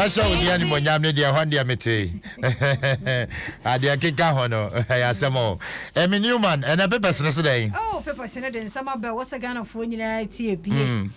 mɛhyɛ wo deɛ animonyam no deɛ hɔ deɛ mete adeɛ keka ho no ɛyɛ asɛm o ɛme newman ɛnɛ pepɛs no so dɛn oh, pepɛs no de nsɛm aba ɛwɔ sɛ ghanafoɔ nyinaa tie bie mm.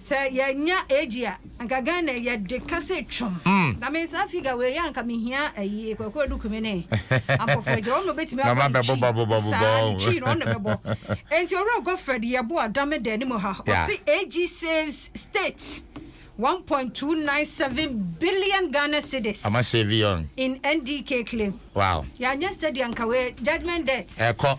Sɛ yɛnya age a anka Ghana yɛde kasa twam na me saa figure wei a anka mehia ayi Kwaku Adukumi ne Ampofo Agya wɔn na wɔbɛtumi abɔ ne twi saa ne twi no wɔn na bɛbɔ enti Owura Godfred Yeboah Dame da anim ha ɔse age saves state 1.297 billion Ghana cedis in NDK claim wow yɛanyɛ study anka wei judgement debt ɛkɔ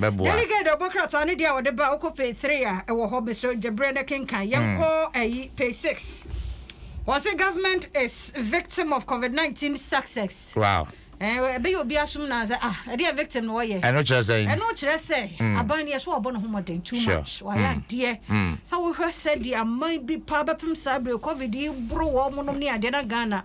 bɛboa. Delegate ɔbɔ krataa no deɛ a ɔde ba wokɔ page three a ɛwɔ hɔ mesrɛ gye berɛ na kenkan yɛnkɔ ayi page six wɔse government is victim of covid nineteen success wow ɛbɛyɛ obi asom na sɛ ah ɛdeɛ victim na wɔyɛ ɛno kyerɛ sɛ ɛno kyerɛ sɛ aban no yɛ so wɔbɔ ne ho mmɔden too much wɔayɛ adeɛ sɛ wohwɛ sɛ deɛ aman bi paa bɛpem saa berɛ covid yi boro wɔ monom ne adeɛ na Ghana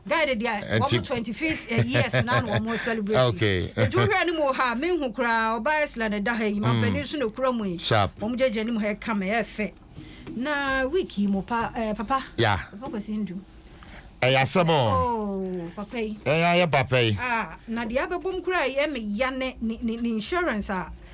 Guide deɛ wɔn twenty fifth eh, years na na wɔn celebrate. Okay. Nti wohwɛ ne mu ha me nhu koraa ɔbaa ɛsla na ɛda ha yi mampanin so na ekura mu yi. Sharp. Wɔn gyegye ne mu ha ɛka mɛ ɛfɛ. Na week yi mo pa ɛɛ eh, papa. Ya. Papa kwasi ndu. Ɛyɛ asɛm o. Oh papa yi. Ɛyɛ ayɛ papa yi. Ah na deɛ abɛbom koraa yɛ me ya ne ne ne insurance a.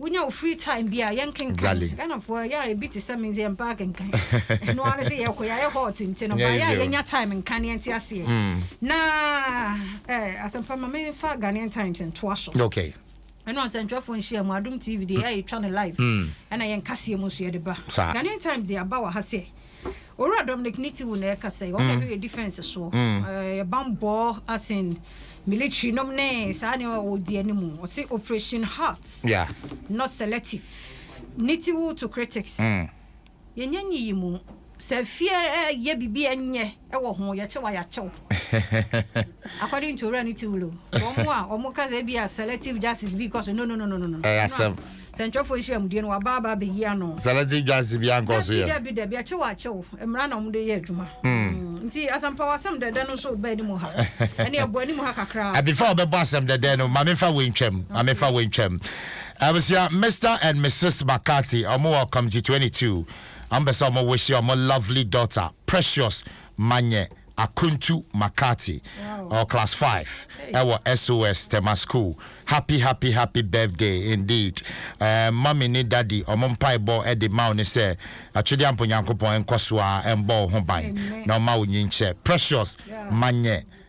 Wonya wo free time bi a yɛnkenkan. Ghanafoɔ yɛ a ebi te sɛ me nso yɛmpɛ akenkan. Ɛno ara ne sɛ yɛkɔ yɛayɛ hot nti no but yɛ a yɛnya time nka na yɛnte aseɛ. Na eh, Asɛmpa ma memfa Ghanaian Times ntoa so. Ɛne Ɔnsɛntwerɛfoɔ Nhyiamu, Adom TV deɛ yɛ a yɛtwa no live ɛna yɛn kaseɛ mu nso yɛde ba. Ghanaian Times deɛ aba wɔ ha sɛ. Owura Dominic Nitiwu na ɛkasa yi, ɔna ɛbɛyɛ defense soɔ, ɛbanbɔ as in military nom ne saa ne ɔdi anim, ɔse operation heart, yeah. not selective. Nitiwu to critics. Mm. Yɛnyɛ nyi yi mu, sɛ fie yɛ bibi ɛnyɛ ɛwɔ ho, yɛkyɛ wa yɛakyɛw. According to Owura Nitiwu, wɔn a wɔn kasa bi a selective justice bi kɔ so, no no no no no. Ɛyɛ asɛm. Sɛnkyerɛfo nhyiam deɛ no waba aba abɛyi ano. Sɛlɛte dwansi biaa nkɔ so yɛ. Dabi dabi dabi akyew akyew mmara na ɔmo de yɛ adwuma mm nti asɛmpa w'asɛm dɛdɛ no nso ba anim ha ɛne ɛbɔ anim ha kakra. Eh before ɔbɛbɔ asɛm dɛdɛ no ma menfa wei ntwam ma menfa wei ntwam abusua Mister and Mrs McCarthy ɔmo wɔ committee 22 ɔmo pɛ sɛ ɔmo wish ɔmo lovely daughter Precious. Manyɛ Akwantu McCarty, ɔwɔ class five ɛwɔ SOS Tema school. Happy happy happy birthday indeed. Ɛɛm mummy ne daddy ɔmo mpaebɔ de ma wo ne sɛ Atwedeampo Nyankopɔn nkɔso ara mbɔ wo ho ban na ɔma wo nyinkyɛ. Precious Manyɛ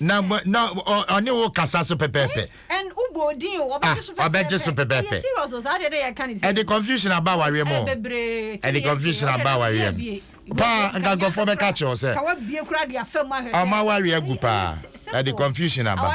na na ɔne wo kasa so pɛpɛɛpɛ ɔbɛgye so pɛpɛɛpɛ ɛde confusion aba awareɛ mu ɛde confusion aba awareɛ mu paa nka nkurɔfoɔ bɛka kyerɛ wo sɛ ɔma awareɛ agu paa ɛde confusion aba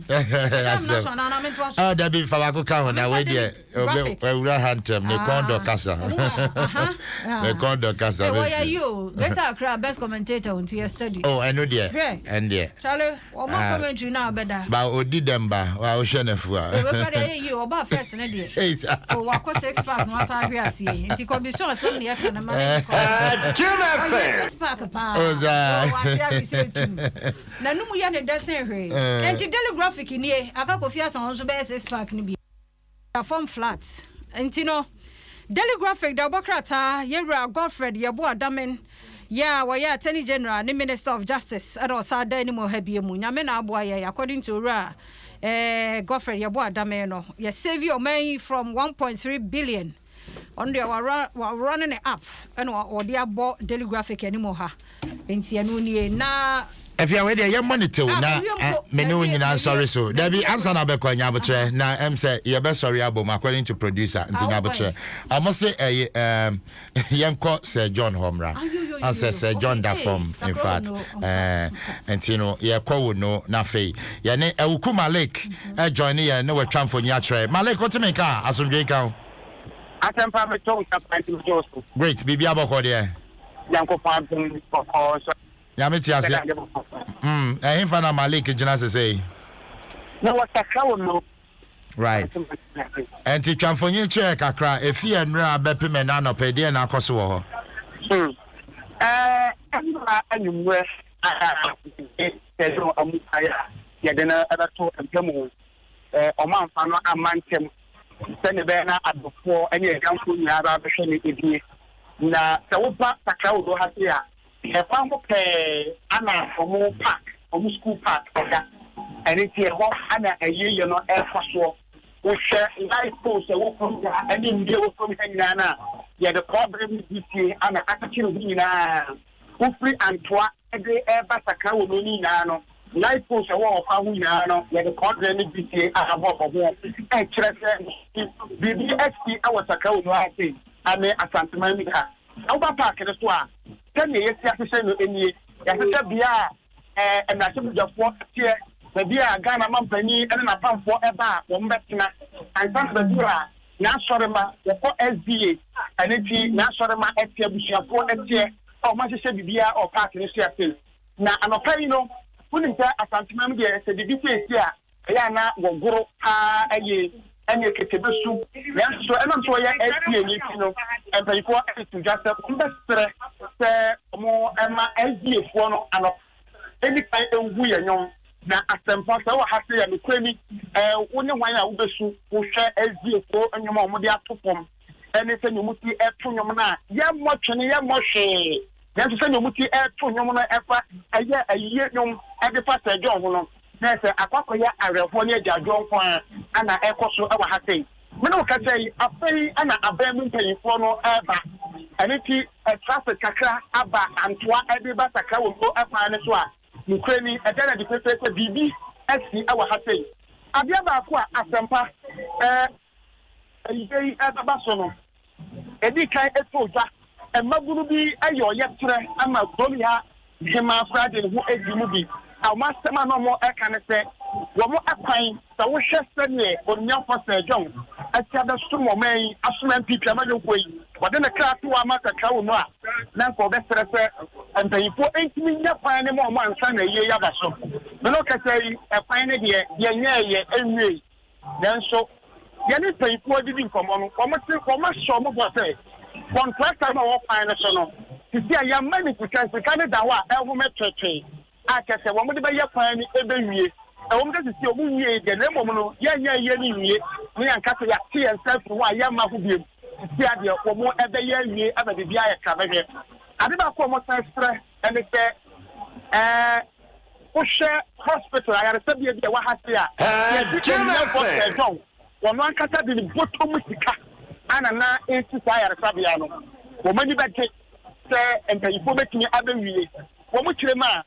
asɛm ah, dabi fa baako ka ho na wei deɛ awura ha ntɛm ne kɔn dɔ kasa ne kɔn dɔ kasa oh ɛno deɛ ɛn deɛ ba ɔdi dɛm ba wa wohwɛ no afu a N'anom yɛ no dɛ sen hwee. Enti Daily Graphic nie, aka Kofi Asamoah nso bɛyɛ six pack no bi. Da fam flat. Enti no, Daily Graphic da ɔbɔ krataa Yɛwura Godfred Yeboah Damen yɛ a ɔyɛ Attorney General ne Minister of Justice ɛna ɔsan da anim ɔha bie mu. Nyame na aboa yɛn, according to Owura eh, Godfred Yeboah Damen no, yɛ save ɔman yi from one point three billion. Ɔno deɛ wawura wawura ne ne app ɛna ɔde abɔ daily graphic anim wɔ ha nti ɛno nie na. Afia wei deɛ yɛmmɔ ne tew ah, na eh, me ne wo nyinaa nsɔre so dabi ansa na bɛkɔ nyabotrɛ uh-huh. na ɛm sɛ yɛbɛsɔre abom according to producer nti nyabotrɛ ɔmo se ɛyɛ yɛnkɔ sɛ john hɔ mmra ansɛ sɛ john da fam in fact nti no yɛkɔ wo no na afei yɛne awuku malik ɛ join ne yɛn ne wɔ twa mfoni akyerɛ Malik wote me nka a asomdwee nka wo. Asɛmpa metɔ wo nsa paa nti megyɛ wo so. Great biribiara bɔkɔɔ deɛ. Nyankopɔn adom bɔkɔɔ nso a. Nyame te aseɛ mm ɛhenfa na Malik gyina sesei. Na wɔ sakra wɔ no. Right ɛnti twa mfonyin kyerɛ yɛ kakra ɛfi ɛnrɛ a bɛpem ɛnɛ anɔpa ɛdeɛn na akɔso wɔ hɔ. Hmm ɛɛ ɛnra anwummerɛ. Ɛsɛ sɛ wɔn mpae a yɛde no bɛto mpa mu. Wɔamfa no amma ntɛm sɛnea ɛbɛyɛ na adɔfoɔ ne adwamfoɔ nyinaa bɛhwɛ no abue. Na sɛ woba Sakra Odo ha sei a, ɛkwan ho pɛɛ na wɔn park, wɔn sukuu park da. Ɛno nti ɛhɔ na ayieyiɛ no rekɔ soɔ. Wohwɛ light poles a ɛwɔ fam ha ne nnua a ɛwɔ fam ha nyinaa no a, yɛde kɔbere ne dwetire na akyekyere ho nyinaa. Wofiri Antoa de reba Sakra wɔ mmere no nyinaa no, light poles a ɛwɔ ɔkwan ho nyinaa no, wɔde kɔɔdrɛn ne bisie abɔ bɔ ho, kyerɛ sɛ biribi asi wɔ Sakra wɔ mu ara sei ne Asanteman mu ha. Sɛ woba paake no so a, sɛnea yɛasi ahyehyɛ no nie, Yɛahyehyɛ bea a mmarahyɛbadwafoɔ teɛ, baabi a Ghana mampanin ne n'apamfoɔ ɛba a wɔn bɛtena ansa na bɛduru a N'asɔremma wɔkɔ SDA a ɛno nti N'asɔremma teɛ, abusuafoɔ teɛ a wɔn ahyehyɛ biribiara wɔ park no so. Afei na anɔpa yi no wonim sɛ Asanteman mu deɛ sɛ biribi siesie a Ɛyɛ a na wɔgoro paa yie ne aketebe su. Nanso so ɛnam sɛ wɔyɛ SDA no nti no, mpanimfoɔ de to dwa sɛ wɔbɛsrɛ sɛ wɔmma SDA foɔ no anɔpa nni kan nhu yɛn nnwom. Na asɛmpa sɛ wowɔ ha sei a, nokorɛ ni, wo ne hwan a wobɛsu wohwɛ SDA foɔ nnwom a wɔde ato fam? ɛne sɛnea wɔte to nnwom no a, yɛmmɔ twene, yɛmmɔ hwee. Nanso sɛnea wɔte to nnwom no fa ɛyɛ ayiyɛ nnwom de fa Sir John ho no, na ɛyɛ sɛ akɔ akɔyɛ awerɛhoɔ ne agyaadwoɔ nko ara na ɛrekɔ so wɔ ha sɛi. Me ne wo kasa yi, afei na aban mu mpanimfoɔ no reba. Ɛno nti, traffic kakra aba Antoa de reba Sakra wɔ Nko kwan no so a, nokorɛ ni, ɛda no adi pefee sɛ biribi asi wɔ ha sɛi. Adeɛ baako a asɛmpa, eh, Eyi bɛba so no, edii kan too dwa. Mmabunu bi yɛ ɔyɛkyerɛ ma kurom ha hemmaa koraa de ne ho di mu bi. Wɔn asɛm a na wɔka ne sɛ, wɔn kwan, sɛ wohwɛ sɛdeɛ Onimnyafoɔ Sir John asi abɛsom ɔman yi, asom MP Twam ayɔnkoɔ yi, ɔde ne kra to ama kakra wɔ mu a, na anka ɔbɛsrɛ sɛ mpaninfoɔ ntumi nnya kwan no ma wɔn ansa na ayie yi aba so. Mene ɔkasa yi, kwan no deɛ, yɛnyɛɛeɛ, ɛnwiei. Nanso, yɛne mpanyimfo a yedidi nkɔmmɔ no, wɔte, wɔahyɛ wɔn bɔ sɛ kɔntrakta no a wɔwɔ kwan no so no, sisi a yɛama no sika, nsika no da hɔ a ɛhome twetwee, a kyerɛ sɛ wɔde bɛyɛ kwan no bewie. Ɛwom sɛ sisi wɔnwiei de, na mmom no, yɛnyɛ awie no nwie, na yɛanka sɛ yɛate yɛn nsa afi ho a yɛmma ho bio. Sisi ara deɛ, wɔrebɛyɛ awie ama biribiara ayɛ krabɛhwɛ. Ade baako a wɔsan srɛ Ɛne sɛ, ɛɛ, wohwɛ hospital, ayaresabea bi a ɛwɔ ha se a, yɛde aniɛmfoɔ pɛɛ dɔn, wɔn ankasa de ne bɔtɔ mu sika ana na ɛresi saa ayaresabea no. Wɔn ani bɛgye sɛ mpaninfoɔ bɛtumi abɛwie wɔn kyerem a,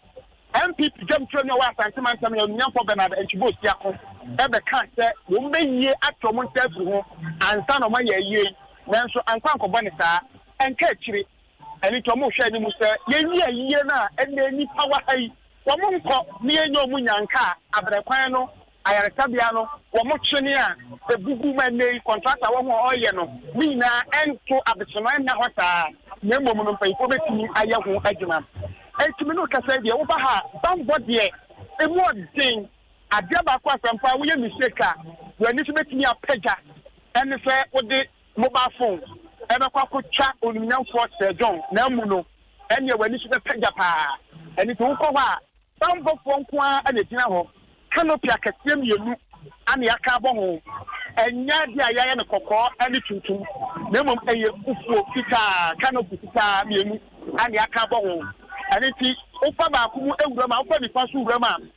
NPP dwamtrani a ɔwɔ Asante mantam yi, Anuonyamfoɔ Bernard Antwi-Boh Siako, bɛkaa sɛ wɔbɛwie ate wɔn nsa afiri ho ansa na wɔayɛ ayie yi, nanso ankɔ ankɔbɔ ne saa. Ɛnka akyire. Ɛno nti wɔhwɛ anim sɛ yɛnyi ayiyɛ no a ɛnnɛ nnipa wɔ ha yi, wɔnkɔ na yɛnyɛ wɔn nyanka a abrɛ kwan no, ayaresabea no, wɔn twene a ɛbubu ma ɛnnɛ yi kɔntrat a wɔn a wɔreyɛ no ne nyinaa ɛnto abesema nna hɔ saa na mmom no mpanyimfoɔ bɛtumi ayɛ ho adwuma. Ɛnti me ne wo kasa yi deɛ woba ha a bammɔ deɛ ɛmu ɔden, adeɛ baako asɛmpa a woyɛ mistake a w'ani so bɛtumi apagya ɛne sɛ wode mobile phone bɛkɔ akɔtwa onimnyamfoɔ Sir John na amu no, ɛnneɛ w'ani so bɛpɛ gya pa ara. Ɛno nti wokɔ hɔ a, banbɔfoɔ nko ara na ɛgyina hɔ, canopy akɛseɛ mmienu na yɛaka abɔ ho. Ɛnyɛ adeɛ a yɛayɛ no kɔkɔɔ ne tuntum, na mmom ɛyɛ fufuo, fitaa, canopy fitaa mmienu na yɛaka abɔ ho. Ɛno nti wofa baako mu wura mu a, wofa nifa nso wura mu a,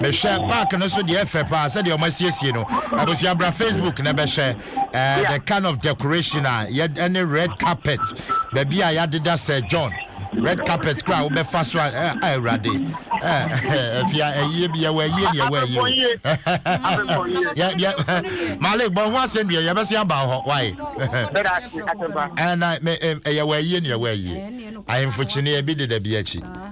Mehwɛ park no so deɛ ɛfɛ paa sɛdeɛ ɔmo asiesie no. Abusua bra Facebook na bɛhwɛ eh, the kind of decoration a yɛ ɛne red carpet baabi a yɛadeda Sir John red carpet koraa wobɛfa so a eh, ah, awurade eh, afia ayie bi yɛwɔ ayie ne yɛwɔ ayie o. Yɛ- yɛ- Malik bɔ ho asɛm deɛ yɛbɛse aba hɔ wae ɛna me- em, yɛwɔ ayie ne yɛwɔ ayie ahemfo kyeneɛ bi deda bi akyi.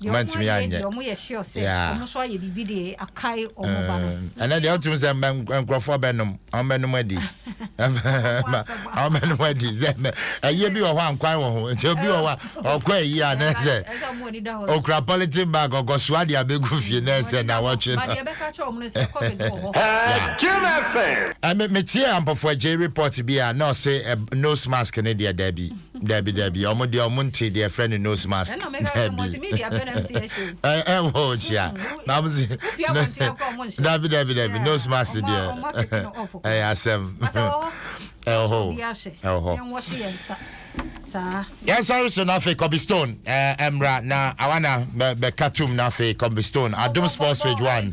Deɛ wɔn ayɛ deɛ wɔn yɛ hye ɔsɛ wɔn nso ayɛ biribi deɛ akae wɔn ba no. ɛnna deɛ ɔtum sɛ mbɛ nkurɔfoɔ bɛnum wɔn bɛnum adi wɔn bɛnum adi sɛ mbɛ ɛyɛ bi wɔ hɔ ankwan wɔ ho nti obi wɔ hɔ a ɔkɔ ɛyi a na ɛsɛ okura pɔlitin bag ɔkɔ so adi abegu fie na ɛsɛ na wɔtwe no. ɛmɛ mɛ tie ampɔfo agye report bi a na ɔsɛ nose mask ne deɛ dɛbi. Dabi dabi ɔmo deɛ ɔmo nte deɛ ɛfrɛ no nose mask dabi ɛwɔ ɔkyia na ɔmo se dabi dabi dabi nose mask deɛ ɛyɛ asɛm ɛwɔ hɔ ɛwɔ hɔ yɛnsɔre so no afei kɔbi stone ɛmmra na awana bɛka tom no afei kɔbi stone adom sports page one